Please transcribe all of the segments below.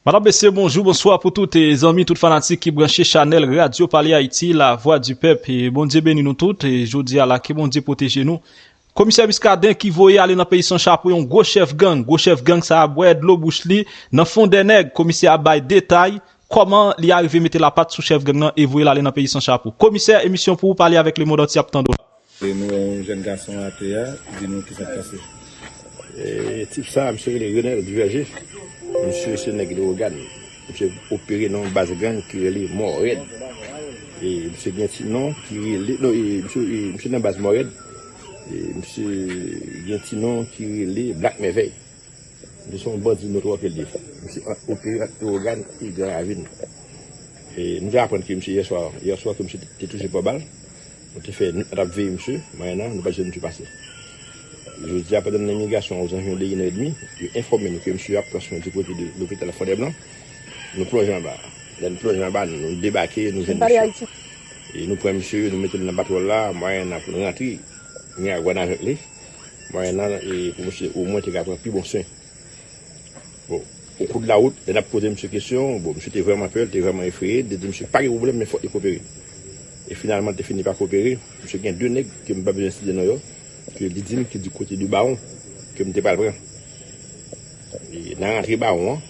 Madam mesye bonjou bonswa pou tout zanmi tout fanatik ki branche chanèl radyo pale ayiti la vwa di pèp bondye beni nou tout jodi a la ke bondye pwoteje nou komisè miskaden ki voye ale nan peyi san chapo yon gwo chèf gang gwo chèf gang sa a bwè dlo bouch li nan fon dè nèg komisè a bay detay kòman li arive mete lapat sou chèf gang nan e voye l ale nan peyi san chapo komisè emisyon pou ou pale avèk lemond antye ap tande w la. E nou wè yon jèn gason atè a, di nou ki sa k pase. E tip sa a, misye rele Renel Duverger, misye se nèg Leogàn, misye opere nan yon baz gang ki rele Mòrèd, e misye gen ti non ki rele, non e misye, e misye nan baz Mòrèd, e misye gen ti non ki rele Black Mèvèy. Nou se yon bandi nou twoke li. Misye ap opere ak Leogane e Gran Ravin. Nou te aprann ke misye yè swa, yè swa ke misye te touche pa bal. Nou te fè nwit a tap veye misye, mayanan nou pat jwenn misye pase. Jodi a pandan nan imigrasyon ozanviwon de 1 è demi, yo enfòme nou ke misye ap pran swen di kote de lopital Fondèblan. Nou plonje anba. Lè nou plonje anba, nou debake, nou jwenn misye. Nou pran misye, nou mete l nan batwòl la, mayanan pou nou rantre Miragwàn avèk li. Mwayen nan e pou misye omwen te ka pran pi bon swen. Bon, okou de la wout, lè n ap poze misye kesyon, bon, misye te vrèman pè, li te vrèman efreye, li te di misye pa gen pwoblèm men fòk li koopere. E finalman li te fini pa koopere. Misye gen 2 nèg, ke m pa bezwen site non yo, ke li di m ki di kote de bawon, ke m te pral pran. E nan rantre bawon an,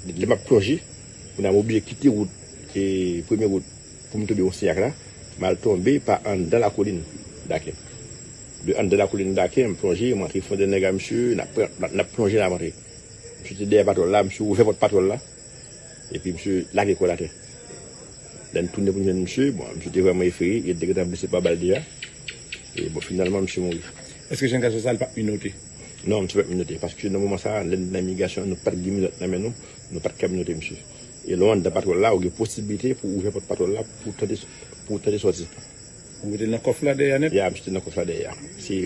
lè m ap plonje, m ap oblije kite wout, e premye wout. Pou m tonbe Osniak la, m al tonbe pa anndan lakolin Dakin. De anndan lakolin Dakin, m plonje, m antre fonde nèg a msye, n ap pran, n ap plonje, n ap antre. Msye te dèyè patwòl la, msye ouvè pòt patwòl la, epi msye lage kò l atè. Lè n tounen pou n jwenn msye, bon, msye te vrèman efreye, e l te gentan blese pa bal deja. E, bon, finalman, msye mouri. Èske jan gason sa l pa t minote? Non, msye pa t minote, paske nan moman sa a, lè n te nan imigrasyon an, nou pa t gen minòt nan men nou, nou pa t ka minote msye. E lè w anndan patwèl la, ou gen posiblite pou ouvè pòt patwèl la pou w tante sòti. Ou mete l nan kòf la dèyè nèt? Ya, m mete l nan kòf la dèyè a. Se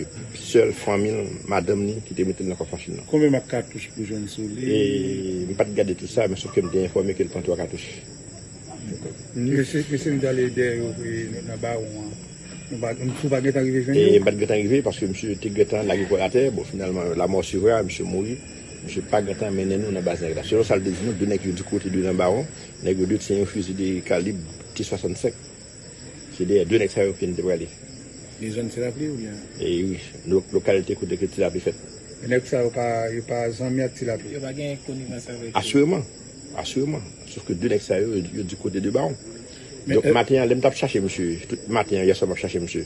sèl fanmi l, madanm li, ki te mete l nan kòf machin nan. Konbyen mak katouch pou jwenn sou li? E, m pa t gade tout sa, men sof ke m te enfòme ke l pran twa katouch. Mesye, mesye nou te ale dèyè yo e nan Bawon an, nou pa, nou pa gentan rive jwenn yo? E, m pa t gentan rive, paske misye te gentan lage kò l atè. Bon, finalman, la mort suivra, misye mouri. Misye pa gentan mennen nou nan baz nèg la. Selon sa l te di nou, 2 nèg yo di kote 2 nan bawon. Nèg yo 2 te yon fizi de kalib T 65. Se dèyè 2 nèg sa yo ke n te prale. Gen zòn Tilapli oubyen? E wi. Lokalite kote ke Tilapli fèt. E nèg sa yo pa yo pa zanmi ak Tilapli? Yo pa gen konivans avèk yo? Asireman. Asireman. Sof ke 2 nèg sa yo, yo di kote 2 bawon. Donk maten an lè m t ap chache misye, tout maten an yè swa m ap chache misye.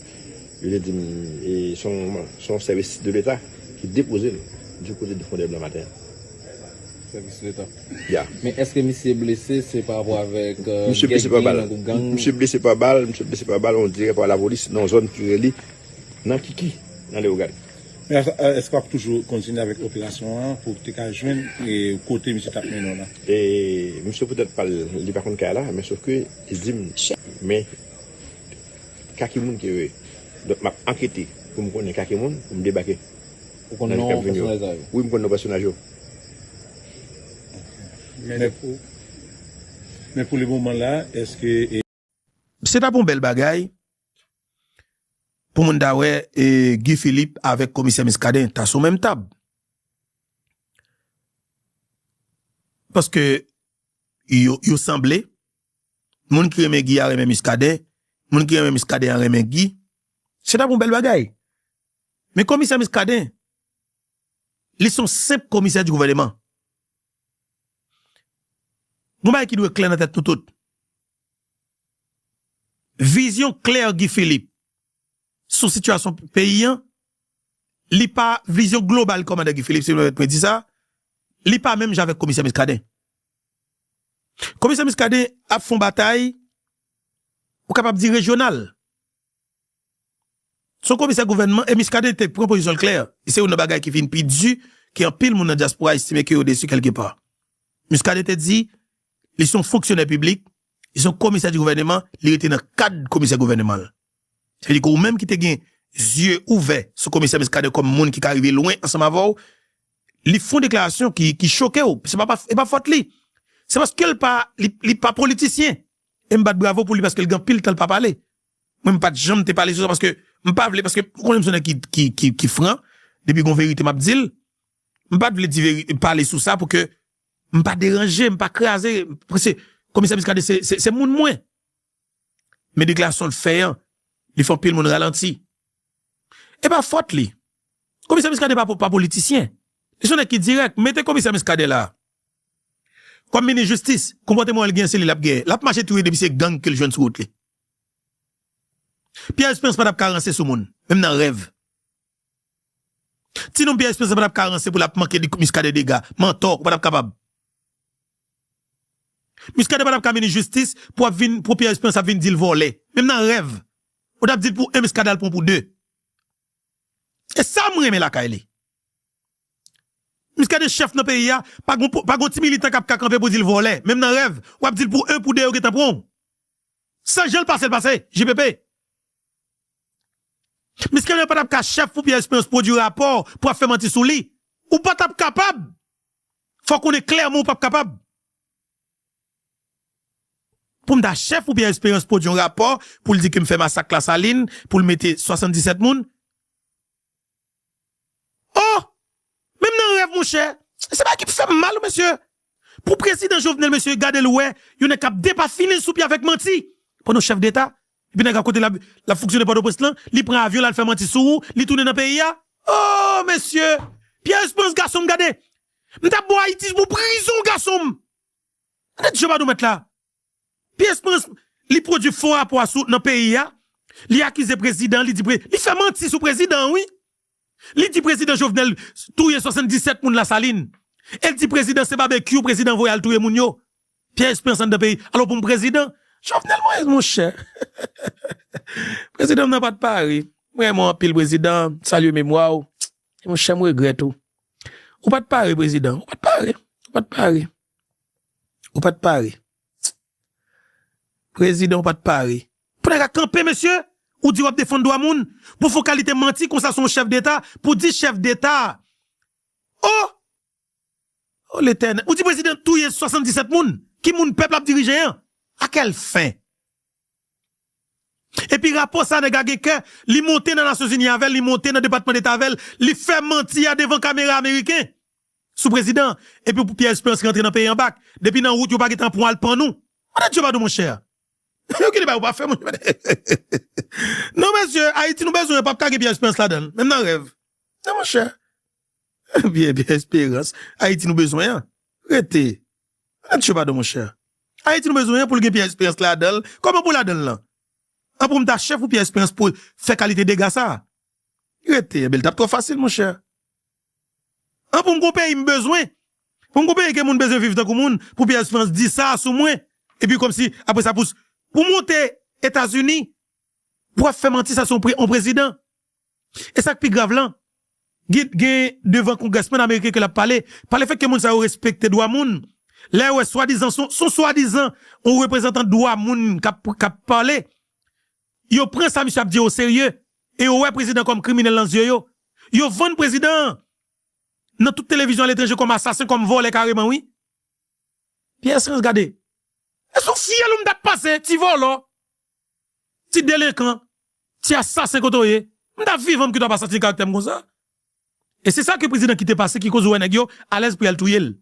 Yo te di m e se yon sèvis de leta ki depoze l du kote de Fondè Blan maten an. Sèvis leta? Ya. Men èske misye blese se pa rapò avèk gè ki genyen nan gwoup gang? Misye blese pa bal, misye blese pa bal, on dirè pa lapolis nan yon zòn ki rele nan Kiki, nan Lewogàn. Men èske w ap toujou kontinye avèk operasyon an pou w te ka jwenn kote misye t ap mennen w la? E misye poutèt pa l, li pa konn kay la, men sof ke li di m men. Ka ki moun ke yo ye? Donk map ankete pou m konnen ka ki moun pou m debake nan jou kap vini yo. Wi m konn non pèsonaj yo. Men pou le moman la eske. Se tap yon bèl bagay pou moun ta wè Guy Philippe avèk komisè Muscadin ta sou menm tab. Paske yo sanble Moun ki renmen Guy a renmen Muscadin, moun ki renmen Muscadin an renmen Guy. Se tap yon bèl bagay. Men komisè Muscadin, li son senp komisè di gouvèneman. Yon bagay ki dwe klè nan tèt nou tout. Vizyon klè Guy Philippe. sou sitiyasyon peyi an, li pa vizyon global kòmandan Guy Philippe, si nou pèmèt mwen di sa, li pa menm jan avèk komisè Muscadin. Komisè Muscadin ap fè yon batay ou kapab di rejyonal. Se yon komisè gouvènman e Muscadin te pran pozisyon l klè, se youn nan bagay ki vin pi di, ke anpil moun nan dyaspora estime ke yo desi kèlke pa. Muscadin te di, li se yon fonksyonè piblik, li se yon komisè di gouvèneman, li rete nan kad komisè gouvèneman l. Sa vle di ke ou menm ki te gen zye ouvè sou komisè Muscadin kòm moun ki ka rive lwen ansanm avè w, li fon deklarasyon ki choke w, se pa, e pa fòt li. Se paske l pa, li pa politisyen. E m bat bravo pou li paske l gen anpil tan l pa pale. Mwen m pa t janm te pale sou sa paske m pa vle, paske m konnen m se yon nèg ki fran, depi gen yon verite m ap di l. M pa t vle di veri, pale sou sa pou ke m pa deranje, m pa kraze, paske komisè Muscadin se moun mwen. Men deklarasyon l fè an, li fè anpil moun ralanti. E pa fòt li. Komisè Muscadin pa politisyen. Li se yon nèg ki dirèk. Mete komisè Muscadin la kòm minis jistis, konpòteman l gen an se li l ap genyen. L ap mache touye depi se gang ke l jwenn sou wout li. Pierre Esperance pa t ap ka ranse sou moun, menm nan rèv. Ti nonm Pierre Esperance patap ka ranse pou lap manke di Muscadin dega, mantò ou patap kapab. Muscadin patap ka minis jistis pou ap vin pou Pierre Esperance ap vin dil vòlè, menm nan rèv ou tap dil pou 1 Muscadin al pran pou 2. E sam renmen lakay li. Muscadin chèf nan peyi a pa gon ti militan kap ka kanpe pou dil vòlè, menm nan rèv wap dil pou 1 pou 2 yo gentan pranw. Se janl pasel pase JPP. Misken yo patap ka chef pou Pierre Esperance pwodwi rapò pou ap fè manti sou li. Ou patap kapab. Fò w konnen klèman ou pap kapab. Pou m ta chef pou Pierre Esperance pwodwi yon rapò pou l di ke m fè masak Lasalin pou l mete 77 moun. Oh! Menm nan rèv monchè! Se bagay ki fèm mal wi mesye! Pou prezidan Jovenel mesye gadel wè yon nèg kap depafinen sou pye avèk manti pandan w chèf deta epi nèg la kote lap lap fonksyone pòtoprens lan li pran avyon lal fè manti sou ou li tounen nan peyi a oh mesye Pierre Esperance gason m gade m tap bo Ayiti pou prizon gason m gade djòb a nou mèt la. Pyès prens li pwodwi fo rapò a sou nan peyi a, li akize prezidan, li di pre, li fè manti sou prezidan an wi. Li di prezidan Jovenel touye 77 moun Lasalin. El di prezidan se babekyou prezidan voye al touye moun yo. Pyè esperans anndan peyi, alò pou m prezidan? Jovenel Moïse monchè prezidan m nan pat pare. M renmen w anpil prezidan, m salye memwa w. Monchè m regrèt ou. Ou pat pare prezidan, ou pat pare, ou pat pare. Ou pat pare. Prezidan ou pat pare. Pou nèg a kanpe mesye, ou di wap defann dwa moun, pou fon kalite manti konsa sou yon chèf deta, pou di chèf deta oh! Oh letènèl, ou di prezidan touye 77 moun, ki moun pèp la ap dirije an? A kèl fen? Epi rapò sa nèg a gen kè li monte nan nasyonzini avèl li monte nan depatman deta avèl li fè manti a devan kamera ameriken sou prezidan an epi pou pyè esperans rantre nan peyi an bak depi nan wout yo pa gentan pwan al pan nou andan dye pa nou monchè yon ki deba yo pa fè monchè non mesye ayiti nou bezwen pap ka gen pyè esperans ladanl menm nan rèv non monchè. Ebyen ebyen esperans ayiti nou bezwen an rete nan tchyo padon monchè ayiti nou bezwen an poul gen pyè esperans ladanl kòman pou ladanl lan an poum ta chèf ou pyè esperans pou fè kalite dega sa rete ebyen tap twò fasil monchè an poum gon peyi m bezwen poum gon peyi ke moun bezwen viv tankou moun pou pyè esperans di sa sou mwen epi kòmsi aprè sa pou pou monte etazini pou ap fè manti sa sou on prezidan E sa k pi grav lan, gen devan kongrèsmèn ameriken ke l ap pale, pa lefèt ke moun sa yo respekte dwa moun, lè yo wè swadizan, son swadizan yon reprezantan dwa moun k ap pale, yo pran sa misye ap di yo oserye, e yo wè prezidan kòm kriminèl nan zye yo. Yo vann prezidan an nan tout televizyon aletranje kòm asasen, kòm vòlè kareman wi. Pierre Esperance gade, e sou fyèl ou m t ap pase ti vòlò. Ti delenkan, ti asasen kote w ye? M ta vivan m kite w ap asasine karaktè m konsa. E se sa ke prezidan kite pase ki koz ou wè nèg yo alèz pou y al touye l.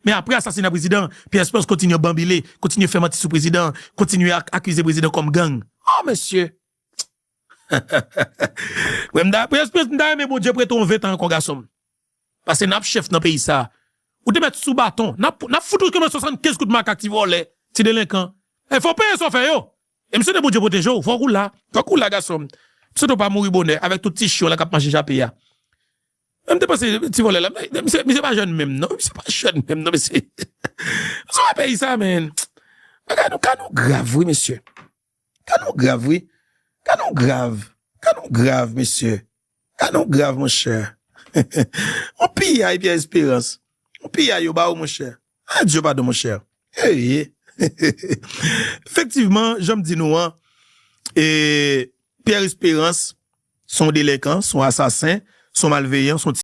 Men apre asasina prezidan an, Pierre Esperance kontinye banbile, kontinye fè manti sou prezidan an, kontinye akize prezidan kòm gang. Oh mesye! Pierre Esperance m ta renmen Bondye prete w 20 tan ankò gason m. Pase nap chef nan peyi sa. Ou te met sou baton. Nap fout ou kman 75 kout makak ti volè, ti delenkan. E fow peye sa w fe yo. E m swete Bondye proteje w. Fok ou la. Fok ou la gason m. M swete w pa mouri bonè avek tout ti chyon la kap manje jape a. M te panse ti volè la. Misye pa jèn menm non. Misye pa jèn menm non mesye. Sa w e peyi sa men. Bagay nou ka nou grav wi mesye. Ka nou grav wi, ka nou grav, ka nou grav mesye, ka nou grav monchè. On piyay Pierre Espérance, on piyay yo ba ou monchè. Ah Dieu pardon monchè. Eyy. Efektivman janm di nou an Pierre Espérance son delenkan, son asasen, son malveyan, son ti.